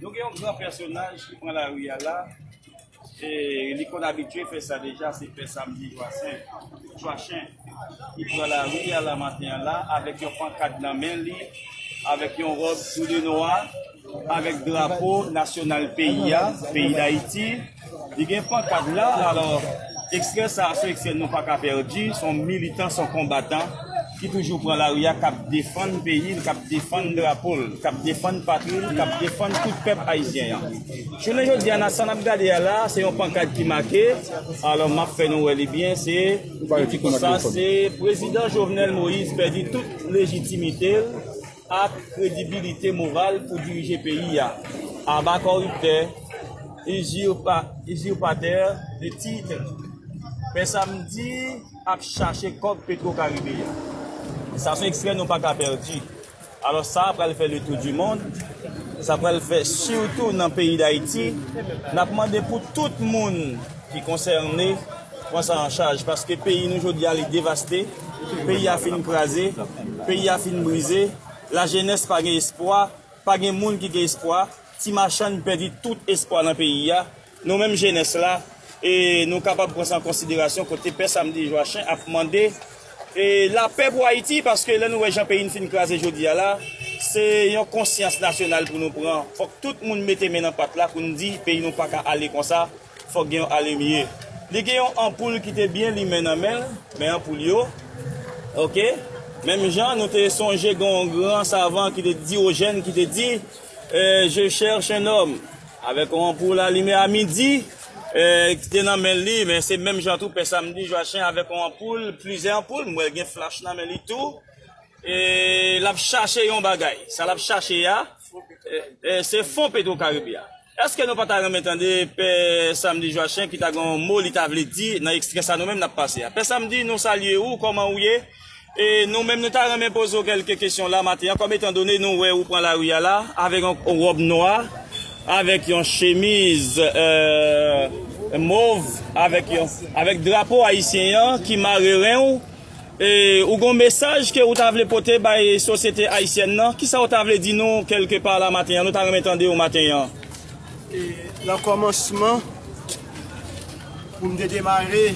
Nou gen yon gran pèsonaj ki pran lari a la, e li konn abitye fè sa deja, se Pè Samdi Jwasen, Chwachen, ki pran lari a la maten an la, avèk yon pankat nan men li, avèk yon ròb tou de nwa, avèk drapo nasyonal peyi a, peyi Dayiti. Li gen pankad la, alò ekstrè sa a se yon ekstrè nou pa ka pèdi, se yon militan, se yon konbatan ki toujou pran lari a, k ap defann peyi l, k ap defann drapo l, k ap defann patri l, k ap defann tout pèp ayisyen an. Jounen jodi a, sa n ap gade a la a, se yon pankad ki make, alò m ap fè nou wè li byen, se li di konsa, se Prezidan Jovenel Moïse pèdi tout lejitimite l, ak kredibilite moral pou dirije peyi a, aba koriptè, uzirpatè de titre, pè samdi ap chache kòb petro karibe a, sa son ekstrè nou paka pèdi, alò sa pral fè le tou du mond, sa pral fè sitou nan peyi dayiti, nap mande pou tout moun ki konsène pran sa an chaj, paske peyi nou jodi a li devaste. Peyi a fin kraze, peyi a fin brize, lajenès pa gen espwa, pa gen moun ki gen espwa, ti machann pèdi tout espwa nan peyi a, nou menm jenès la e nou kapab pran sa an konsiderasyon kote Pè Samdi Jwachen ap mande e lapè pou Ayiti paske lè nou wè jan peyi n fin kraze jodi a la se yon konsyans nasyonal pou nou pran fòk tout moun mete men nan pat la pou n di peyi nou pa ka ale konsa. Fòk gen yon alimye. Li gen yon anpoul ki te byen limen nan men l, men anpoul yo. Ok. Menm jan nou te sonje gen yon gran savan ki te Diogène ki te di, Je cherche un homme. Avèk yon anpoul alime a midi ki te nan men li. Men se menm jan tou pè Samedi Joachim avèk yon anpoul, plizyè anpoul, m wè l gen flach nan men li tou. E l ap chache yon bagay. Sa l ap chache a, se fon Petro Caribe a. Eske nou pa ta renmen tande Pè Samedi Joachim ki ta gen yon mo li ta vle di nan ekstrè sa nou menm nap pase a. Pè Samedi nou salye ou, kòman ou ye? E nou menm nou ta renmen poze w kèlke kesyon la maten an kòm etan done nou wè ou pran lari a la avèk yon wòb nwa, avèk yon chemiz mov, avèk drapo ayisyen an ki mare ren ou. E ou gon mesaj ke ou ta vle pote bay sosyete ayisyèn nan? Kisa ou ta vle di nou kelke pa la maten an? Nou ta renmen tande ou maten an. E nan kòmansman, pou m te demare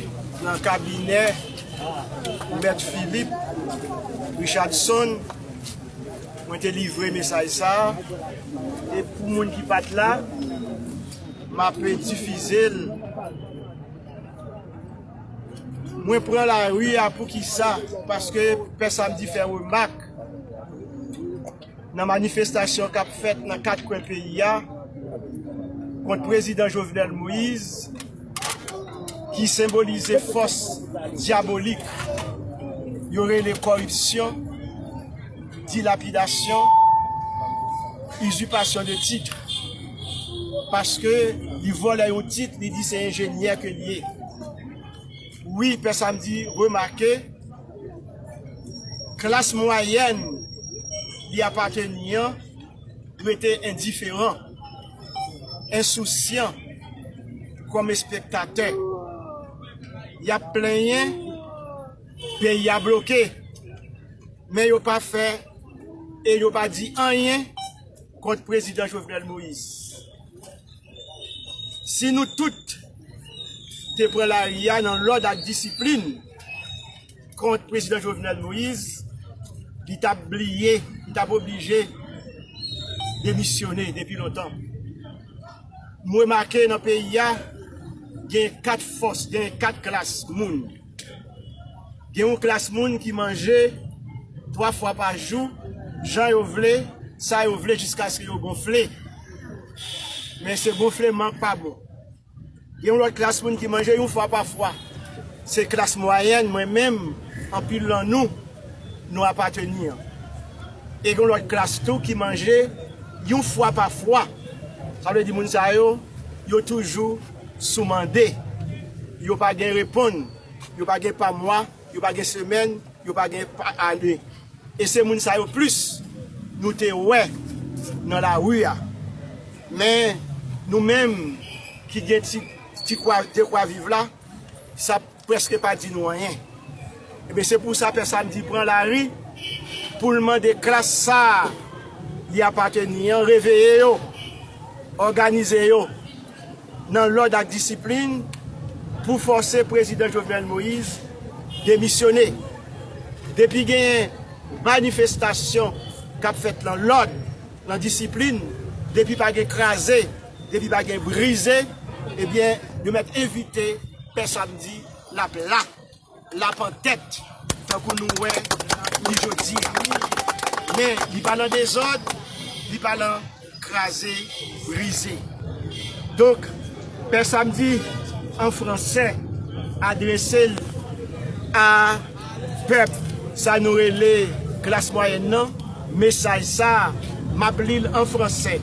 nan kabinè Mèt Filip Richadson, mwen te livre mesaj sa a. E pou moun ki pa t la, m ape difize l. Mwen pran lari a poukisa? Paske Pè Samdi fè remak nan manifestasyon k ap fèt nan kat kwen peyi a kont Prezidan Jovenel Moïse ki senbolize fòs dyabolik yo rele kòripsyon, dilapidasyon, izipasyon de tit. Paske li vòlè yon tit li di se enjenyè ke li ye wi pè samdi remake klas mwayèn li apateni an rete endiferan ensousyan kòm espektatè yap plenyen peyi a bloke men yo pa fè e yo pa di anyen. Kont prezidan Jovenel Moïse. Si nou tout te pran lari a nan lòd ak disiplin kont prezidan Jovenel Moïse, li t ap bliye, li t ap oblije demisyone depi lontan. M remake nan peyi a gen 4 fòs, gen 4 klas moun. Gen yon klas moun ki manje 3 fwa pa jou, jan yo vle, sa yo vle jiskaske yo gonfle. Men se gonfleman k pa bon. Gen yon lòt klas moun ki manje yon fwa pa fwa. Se klas mwayèn mwen menm, anpil lan nou, nou apateni an. E gen yon lòt klas tou ki manje yon fwa pa fwa. Sa vle di moun sa yo, yo toujou. Sou mande, yo pa gen reponn, yo pa gen pa mwa, yo pa gen semèn, yo pa gen pa ane. E se moun sa yo plis nou te wè nan lari a. Men, nou menm ki gen ti dekwa viv la, sa. Prèske pa di nou anyen. Ebyen se pou sa Pè Samdi pran lari pou l mande klas sa a li apateni an reveye yo, òganize yo nan lòd ak disiplin pou fòse Prezidan Jovenel Moïse demisyone. Depi genyen manifestasyon k ap fèt nan lòd, nan disiplin, depi pa gen kraze, Depi pa gen brize ebyen yo mèt evite pè samdi lap la lap an tèt tankou nou wè li jodi a men li pa nan dezòd li pa nan kraze brize donk pè samdi an fransè adrese l a. Pèp sa nou rele klas mwayèn nan, mesaj sa m ap li l an franse,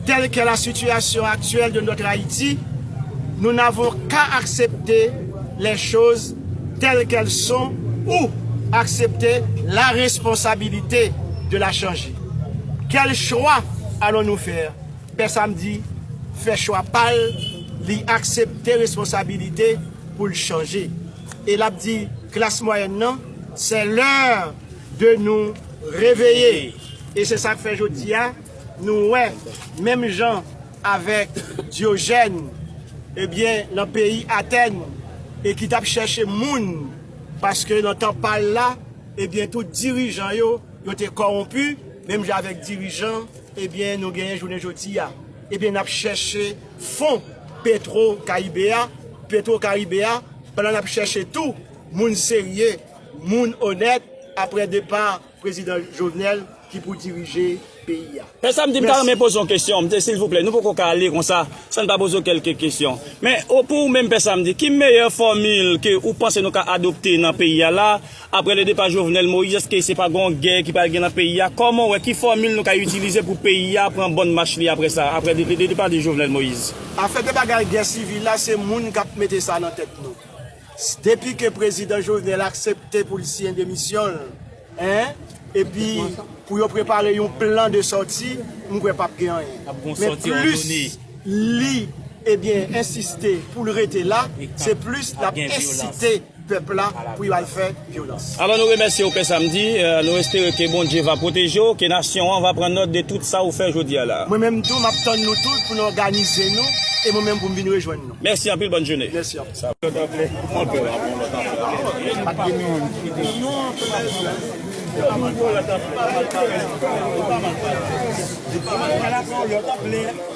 Telle qu'est la situation actuelle de notre Haïti, nous n'avons qu'à accepter les choses telles qu'elles sont ou accepter la responsabilité de la changer. Quel choix allons-nous faire? Pè Samdi fè chwa pa l, li aksepte responsabilite pou l chanje. E l ap di klas mwayèn nan, sè lè de nou reveye. E se sa k fè jodi a, nou wè menm jan avèk Dyojèn, ebyen nan peyi Atèn, e ki t ap chèche moun, paske nan tan pa l la, ebyen tout dirijan yo, yo te kòwonpi, menm jan avèk dirijan, ebyen nou genyen jounen jodi a. Ebyen n ap chèche. Fon Petro Caibe a, Petro Caribe a, pandan lap chèche tou moun serye, moun onèt aprè depa Prezidan Jovenel ki pou dirije peyi a. Lè sa m di m ta renmen poze yon kesyon, m di silvouplè nou poko ka ale konsa san n pa poze w kèlke kesyon. Men, pou ou menm Pè Samdi, ki meyè fòmil ke ou panse nou ka adopte nan peyi a la Aprè le depa Jovenel Moïse eske se pa gon gè ki pral gen nan peyi a? Kòman ou wè ki fòmil nou ka itilize pou peyi a pran bòn mach li aprè sa, aprè le depa de Jovenel Moïse? Afè de bagay gè sivil la se moun kap mete sa nan tèt nou. Depi ke prezidan Jovenel aksepte pou l siyen demisyon l, en, epi pou yo prepare yon plan de sòti, m kwè pap gen anyen. Men plis li, ebyen, ensiste pou l rete la, se plis lap ensite. pèp la pou yo al fè vyolans. Avan nou remèsye ou Pè Samedi, nou espere ke Bondye va pwoteje w, ke nasyon an va pran nòt de tout sa ou fè jodi a la. Mwen menm tou, map tann nou tout pou nou òganize nou e mwen menm pou m vin rejwenn nou. Mèsi anpil, bòn joune. Mèsi anpil.